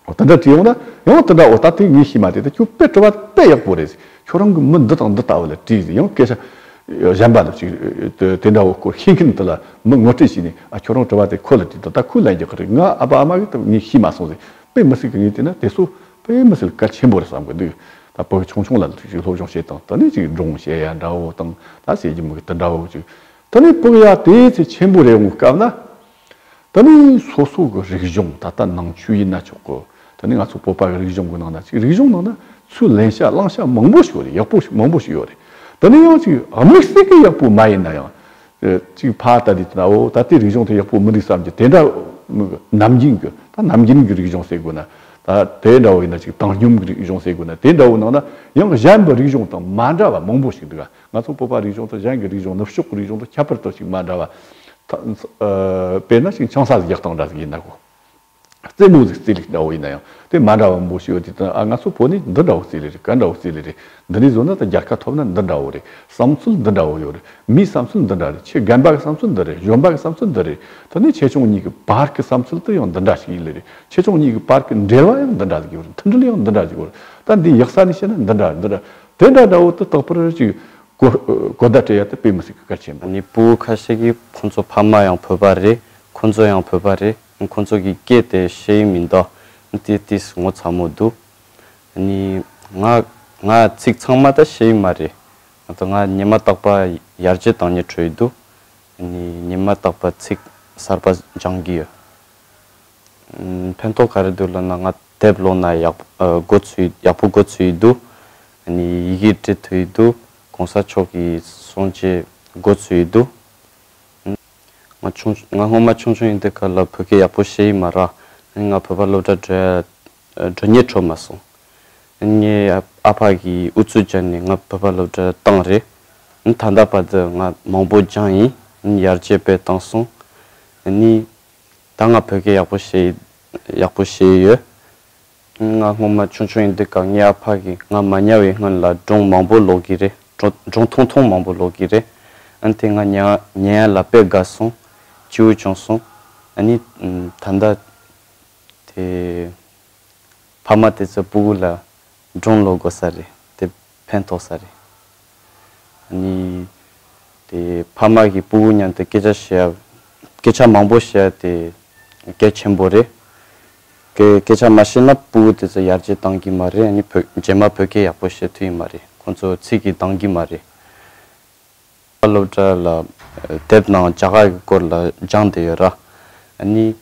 འོ་ད་འདྲ་དེ་ཡོང་ན་ཡང་དེ་འདྲ་འོ་ད་དེ་ངས་ཤེས་མ་དེ་ད་ཁྱོད་དཔེ་བྲོ་བ་དཔེ་ཡག་པོ་རེད་ཟེར་ཁྱོད་རང་གི་མི་འདི་དང་འདི་ལྟ་བུ་ལ་དྲིས་ཟེར་ཡང་སྐད་ཆ་གཞན་པ་འདུག་ཅིག་དེ་འདྲ་བོ་སྐོར་ཤེས་མཁན་དེ་ལ་མི་ངོ་སྤྲད་བྱས་ནས་ཨ་ཁྱོད་རང་བྲོ་བ་དེ་ཁོ་ལ་དྲིས་འདི་ལྟ་ཁོས་ལན་རྒྱག་གི་རེད་ང་ཨ་ཕ་ཨ་མ་གི་ད་ངས་ཤེས་མ་སོང་ཟེར་དཔེ་མི་སྲིད་གི་ངས་བལྟས་ན་དེ་སོ་དཔེ་མི་སྲིད་གལ་ཆེན་པོ་རེད་བསམ་གི་འདུག་ད་བོད་ཆུང་ཆུང་ལ་ལུག་ཅིག་སློབ་སྦྱོང་བྱེད་དང་དེ་ནས་ཅིག་འབྲོང་བཤད་ཡ་འདྲ་བོ་དང་ད་བཤད་རྒྱུ་མི་དེ་འདྲ་བོ་ཅིག་དེ་ནས་བུག་ཡ་དེ་ཚེ་ཆེན་པོ་རེད་འོང་སྐབས་ན། ད་ནི་སོ་སོ་གི་རིག་གཞུང་ད་ལྟ་ནང་ཆོས་ཡིན་ན་ཆོག་གོ། ད་ནི་ང་ཚོ་བོད་པ་གི་རིག་གཞུང་གི་ནང་ན་ཅིག་རིག་གཞུང་ནང་ན་ཚུར་ལན་ཤ་གླང་ཤ་མང་པོ་ཞིག་ཡོད་རེད་ཡག་པོ་ཞིག་མང་པོ་ཞིག་ཡོད་རེད། ད་ནི་ཡང་ཅིག་དམིགས་བསལ་གི་ཡག་པོ་མ་ཡིན་ན་ཡང། ཅིག་ཕ་ད་དེ་ད་འོ་ད་ལྟའི་རིག་གཞུང་དེ་ཡག་པོ་མི་འདུག་བསམ་གྱི་དེ་འདྲ་ནམ་རྒྱུན་གྱི་ད་ནམ་རྒྱུན་གྱི་རིག་གཞུང་ཟེར་དགོས་ན་ད་དེ་འདྲ་བོ་ཡིན་ན་ཅིག་བཏང་སྙོམས་གི་རིག་གཞུང་ཟེར་དགོས་ན་དེ་འདྲ་བོ་ནང་ན་ཡང་གཞན་པའི་རིག་གཞུང་དང་མ་འདྲ་བ་མང་པོ་ཞིག་འདུག་ག་ང་ཚོ་སྤོབས་པ་རིག་གཞུང་དང་གཞན་གྱི་རིག་གཞུང་ནུབ་ཕྱོགས་ཀྱི་རིག་གཞུང་དང་ཁྱད་པར་དུ་ཞིག་མ་འདྲ་བ། དཔེར་ན་ཞིང་ཆང་ས་ལ་རྒྱག་སྟངས་འདྲ་ཟིག་ཡིན་ན་གོ། རྩེད་མོ་ཟིག་རྩེད་ལེ་འདྲ་བོ་ཡིན་ན་ཡང་དེ་མ་འདྲ་བ་མང་པོ་ཞིག་ཡོད་དེ་དང་ཨ་ང་ཚོ་བོད་ནི་འདི་འདྲ་བོ་རྩེད་ལེ་རེད་ག་འདྲ་བོ་རྩེད་ལེ་རེད་འདི་འདྲས་བཟོ་ན་དང་རྒྱལ་ཁ་ཐོབ་ན་འདི་འདྲ་བོ་རེད་བསམ་ཚུལ་འདི་འདྲ་བོ་ཡོད་རེད་མིའི་བསམ་ཚུལ་འདི་འདྲ་རེད་ཁྱི་རྒན་པ་གི་བསམ་ཚུལ་འདི་རེད་གཞོན་པ་གི་བསམ་ཚུལ་འདི་རེད་ད་ནི་ཆེ་ཆུང་གཉིས་ཀྱི་བར་གྱི་བསམ་ཚུལ་དེ་ཡང་འདི་འདྲ་ཞིག་ཡིན་ལེ་རེད་ཆེ་ཆུང་གཉིས་ཀྱི་བར་གྱི་འབྲེལ་བ་ཡང་འདི་འདྲ་ཟིག་ཡོད་རེད་མཐུན་སྒྲིལ་ཡང་འདི་འདྲ་ཟིག་ཡོད་རེད་ད་འདི་ཡག་ས་ནས་བཤད་ན་འདི་འདྲ་འདི་འདྲ་དེ་འདྲ་འདྲ་བོ་དེ་རྟག་པར་ཅིག་གོ། གོ་བརྡ་སྤྲད་ཡ་དེ་དཔེ་མི་སྲིད་ཀི་སྐལ་ཆེན་པོ། ནི་པུའུ་ཁ་ཤས་ཀི་ཁོ་ཚོ་ཕ་མ་ཡང་བོད་པ་རེད་ཁོ་ཚོ་ཡང་བོད་པ་རེད་ཁོ་ཚོ་གི་སྐད་དེ་ཤེས་ཡི་མི་འདུག་ཏི་ཏིས་ངོ་ཚ་མོ་འདུག་ནི་ང་ང་ཚིག་ཚང་མ་ད་ཤེས་ཡི་མ་རེད་ད་ང་ཉི་མ་རྟག་པ་ཡར་རྗེ་དང་ཉི་དྲོ་ཡི་འདུག་ནི་ཉི་མ་རྟག་པ་ཚིག་གསར་པ་སྦྱང་གི་ཡོད་ཕན་ཐོག་ག་རེ་འདུག་ལབ་ན་ང། དེབ་ཀློག་ན་ཡག་པོ་གོ་ཚུལ་ཡག་པོ་གོ་ཚུལ་འདུག་ནི་ཡི་གེ་འབྲི་འཐུས་འདུག་གོང་ས་མཆོག་གི་གསུང་བཅད་གོ་ཚུལ་འདུག་ང་ཆུང་ང་སྔོན་མ་ཆུང་ཆུང་ཡིན་དུས་སྐབས་ལ་བོད་སྐད་ཡག་པོ་ཤེས་ཡི་མ་རག་ང་བོད་པ་སློབ་གྲྭ་བྲོས་བྲོ་ཉེས་འཕྲོ་མ་སོང་ངའི་ཨ་ཕ་གིས་ཨུ་ཚུགས་བྱས་ནས་ང་བོད་པ་སློབ་གྲྭ་བཏང་རེད་ད་ལྟ་བར་དུ་ང་མང་པོ་སྦྱངས་ཡིན་ཡར་རྒྱས་སྤེལ་བཏང་སོང་ནི། ད་ང་བོད་སྐད་ཡག་པོ་བཤད་ཡིན། ཡག་པོ་བཤད་ཡོད། ང་སྔོན་མ་ཆུང་ཆུང་ཡིན་དུས་སྐག་ཉལ་ཨ་ཕ་གིས་ང་མ་ཉལ་བའི་སྔོན་ལ་སྒྲུང་མང་པོ་ཀློག་གི་རེད། སྒྲུང་ཐུང་ཐུང་མང་པོ་ཀློག་གི་རེད། ཨ་ཐེངས་ང་ཉལ་ཡལ་ལ་དཔེ་དགའ་སོང། སྤྱིའུ་བྱུང་སོང། ཨ་ནི། ད་ལྟ། དེ། ཕ་མ་དེ་ཚོས་སྤུ་གུ་ལ། སྒྲུང་ཀློག་དགོས་ས་རེད། དེ། ཕན་ཐོགས་ས་རེད། ནི། དེ་ཕ་མ་གི་པུ་བུ་མཉམ་དུ་སྐད་ཆ་བཤད་ཡ། སྐད་ཆ་མང་པོ་བཤད་ཡ་དེ་གལ་ཆེན་པོ་རེད། གལ་སྐད་ཆ་མ་བཤད་ན་པུ་བུ་དེ་ཚོ་ཡར་རྒྱས་གཏང་གི་མ་རེད་ནི་བོད་རྗེས་མ་བོད་སྐད་ཡག་པོ་བཤད་ཐུབ་ཡི་མ་རེད་ཁོང་ཚོ་ཚིག་གིས་འདང་གི་མ་རེད། བཀའ་སློབ་སྤྲ་ལ་དེབ་ནང་རྒྱ་གར་གྱི་སྐོར་ལ་སྦྱངས་བསྡད་ཡོད་ར། གཉིས།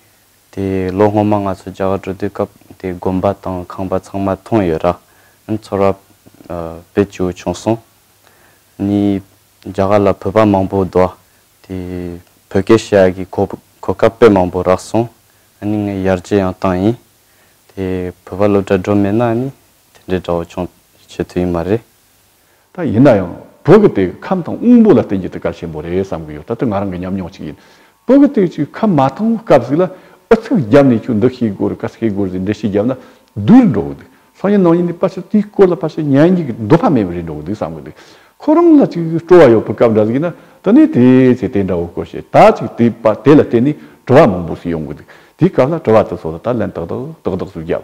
དེ་ལོ་སྔོན་མ་ང་ཚོ་རྒྱ་གར་འགྲོ་དུས་སྐབས་དེའི་དགོན་པ་དང་ཁང་པ་ཚང་མ་མཐོང་ཡོད་ར། ཚོར་བ་བེད་སྤྱོད་བྱུང་སོང། གཉིས། རྒྱ་གར་ལ་བོད་པ་མང་པོ་འདུག་ཨ། དེ་བོད་སྐད་བཤད་ཡག་གི་གོ་སྐབས་དཔེ་མང་པོ་རག་སོང། གཉིས་ངས་ཡར་རྗེས་ཡང་བཏང་ཡིན། དེ་བོད་པ་སློབ་གྲྭ་འགྲོ་མེད་ན་ནི་དེ་འདྲའི་དགྲ་བོ་མཆོངས་བྱེད་ཐུ་ཡིན་མ་རེད། ད་ཡིན་ན་ཡང་བོད་ཀྱི་དེ་ཁམས་དང་དབུང་པོ་ལ་བརྟེན་རྒྱུ་དེ་གལ་ཆེན་པོ་རེད་བསམ་གྱི་ཡོད་ད་ལྟ་ང་རང་གི་ཉམས་མྱོང་ཅིག་ཡིན། བོད་ཀྱི་དེ་ཅིག་ཁམས་མ་ཐོན་སྐབས་ཟིག་ལ་ཨུ་ཚུགས་བརྒྱབ་ནས་ཁྱོད་འདི་ཤེས་དགོས་རེད་ག་ཤེས་དགོས་རེད་ཟེར་འགྲེལ་བཤད་བརྒྱབ་ན་དུས་རེ་འགྲོ་གི་འདུག་སང་ཉིན་ནང་ཉིན་ནས་ཕལ་ཆེར་དེའི་སྐོར་ལ་ཕལ་ཆེར་ཉན་རྒྱུའི་འདོད་པ་མེད་པ་རེ་འགྲོ་གི་འདུག་བསམ་གི་འདུག་ཁོ་རང་ལ་ཅིག་སྤྲོ་བ་ཡོད་པའི་སྐབས་འདྲ་ཟིག་ཡིན་ན་དེ་ནས་དེ་ཚེ་དེ་འདྲ་བོ་དགོས་ཞེས་ད་ཅིག་དེ་དཔའ་དེ་ལ་བརྟེན་ནས་དྲི་བ་མང་པོ་ཞིག་ཡོང་གི་འདུག་དེའི་སྐབས་ལ་དྲི་བ་དེ་ཚོ་ལ་ད་ལན་ཏག་ཏག་ཏག་ཏག་ཟུར་བརྒྱབ་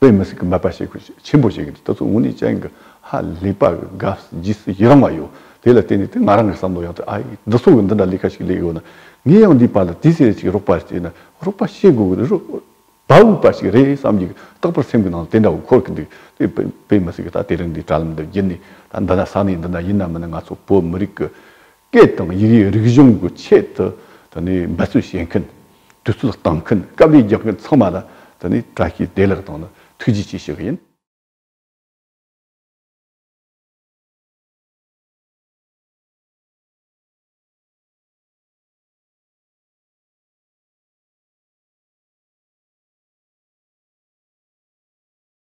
པོས་མི་སྲིད་ཀྱི་འབད་པ་བྱེད་དགོས་ཆེད་ཆེན་པོ་བྱེད་ཀྱི་འདུག་ད་གཟོད་ཝུན་ནི་ཅན་གྱི་ཧ་ལས་པ་གི་དགའ་བཞི་སུ་ཡི་རང་བ་ཡོད་དེ་ལ་བརྟེན་ནས་དེ་ང་རང་གི་བསམ་བློ་ཡང་དེ་ཨ་ཡིས་འདི་ཚོ་གི་འདི་འདྲ་ལས་ཀ་ཞིག་ལས་ཡོད་ན་ངས་ཡང་འདིའི་བར་ལ་དེ་ཟེར་ཅིག་རོགས་པ་བྱས་ན་རོགས་པ་བྱེད་དགོས་ཀྱི་རེད་དྲ་བའུ་པ་ཞིག་རེད་བསམ་གྱི་རྟག་པར་སེམས་ཀྱི་ནང་ལ་དེ་འདྲ་བོ་འཁོར་གྱི་འདུག་དེ་པོས་མི་སྲིད་ཀྱི་ད་དེ་རིང་འདིའི་དྲ་ལམ་འདི་བརྒྱུད་ནས་ད་འདི་ན་ས་གནས་འདི་ན་ཡིན་ནམ་མིན་ན་ང་ཚོ་བོད་མི་རིགས་ཀྱི་སྐད་དང་ཡི་གེའི་རིག་གཞུང་གི་ཆེད་དུ་འབད་རྩོལ་བྱེད་མཁན། དུས་ཚོད་བཏང་མཁན་དཀའ་ལས་རྒྱག་མཁན་ཚང་མ་ལ་བཀྲ་ཤིས་བདེ་ལེགས་དང་ཐུགས་རྗེ་ཆེ་ཞུ་གི་ཡིན།